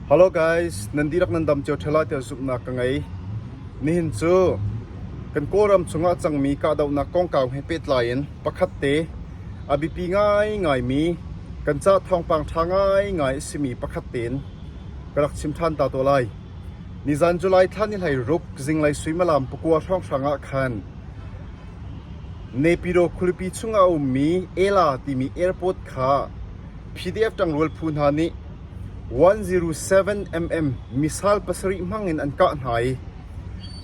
Hello guys, nan dihlak nan dam cio ṭheo lai tiah zumhnak ka ngei. Nihin cu kan Kawlram chungah a cangmi kahdohnak kongkau he pehtlai in pakhat te a biapi ngaingaimi kan ca thawngpang ṭha ngaingai a simi pakhat tein ka rak chim ṭhan ta taw lai. Nizan July thla ni hleiruk zinglei suimalam pakua hrawnghrang ah khan Nepiro khualipi chungah a ummi Ela timi airport kha PDF ṭangrual phu hna nih 107mm missile pasarih hmangin an kah hna i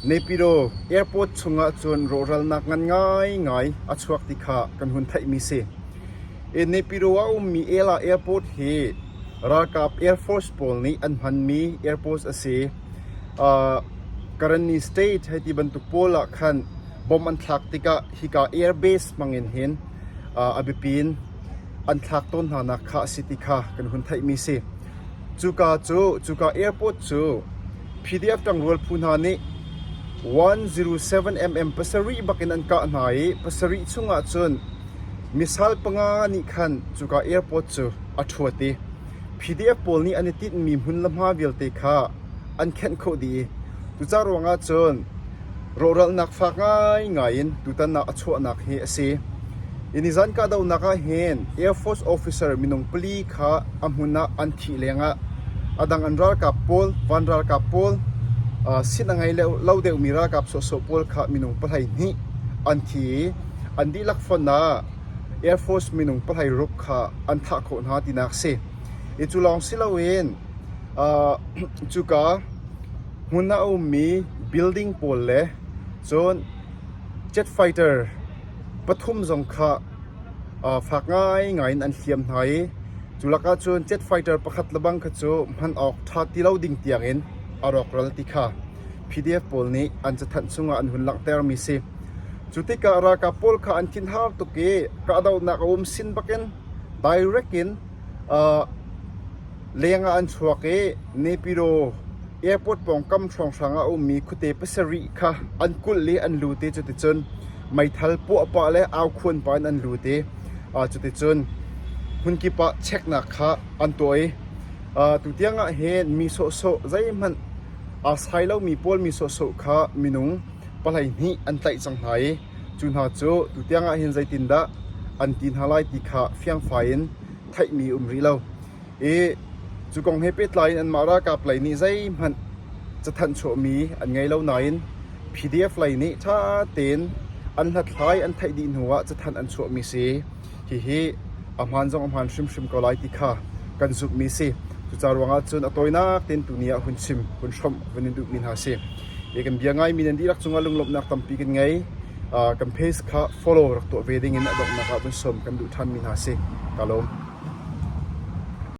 Naypyidaw Airport chungah cun rawhralnak ngan ngaingai a chuak ti kha kan hun theihmi a si. Naypyidaw ah a ummi Ela Airport hi ralkap Air Force pawl nih an hmanmi airport a si. Uh, Karani State hei ti bantuk pawl ah khan bomb an thlak tikah hika air base hmangin hin uh, a biapin an thlak tawn hnanak kha a si ti kha kan hun theihmi a si. Cuka cu cuka airport cu PDF ṭangrual phu hna nih 107mm pasarih bakin an kah hna i pasarih chung ahcun misal panga nih khan cuka airport cu a ṭhuat i PDF pawl nih an i tinhmi hmun le hma vialte kha an khenh khawh dih i cucaah ruangah cun rawhralnak fak ngaingai in tutan ah a chuahnak hi a si. Hi nizan kahdohnak ah hin Air Force officer minung pali kha a hmun ah an thih lengah a dang an ralkap pawl, van ralkap pawl, uh, sin a ngei lo deuhmi ralkap sawhsawh pawl kha minung pahlei hnih an thi i an dihlak fon ah Air Force minung pahlei ruk kha an thah khawh hna tinak a si. I cu lawng si loin uh, cuka hmun ah a ummi building pawl le cun jet fighter pathum zong kha uh, fak ngaingai in an hliam hna i cu lakah cun jet fighter pakhat lebang kha cu hman awk ṭha ti lo ding tiangin a rawkral ti kha PDF pawl nih an cathanh chungah an hun langhtermi a si. Cu tikah ralkap pawl kha an thinhar tuk i kahdohnak a um sin bakin direct in leng ah an chuak i Nepyro airport pawngkam hrawnghrang ah a ummi khuate pasarih kha an kulh i an lut i cuticun meithal puahpah le aukhuanpah in an lut i cuticun hmunkip ah cheknak kha an tuah i tutiang ah hin mi sawhsawh zeihmanh aa sai lomi pawl mi sawhsawh kha minung palhei hnih an tlaih cang hna i cu hna cu tutiang ah hin zeitindah an ti hna lai ti kha fiangfai in theihmi um rih lo i cu kong he pehtlai in anmah ralkap lei nih zeihmanh cathanh chuahmi an ngei lo nain PDF lei nih ṭha tein an hlathlai an theih dih hnu ah cathanh an chuahmi si. Hihi a hmaan zong a hmaan hrimhrim ko lai ti kha kan zumhmi a si. Cucaah ruangah cun a tawinak tein tuni ah hun chim, hun hrawmh vun in duhmi hna si. I kan bia ngaimi nan dihlak cungah lunglawmhnak tampi kan ngei. Uh, kan page kha follow rak tuah ve dingin a donghnak ah vun sawm kan duh ṭhanmi hna si. Ka lawm.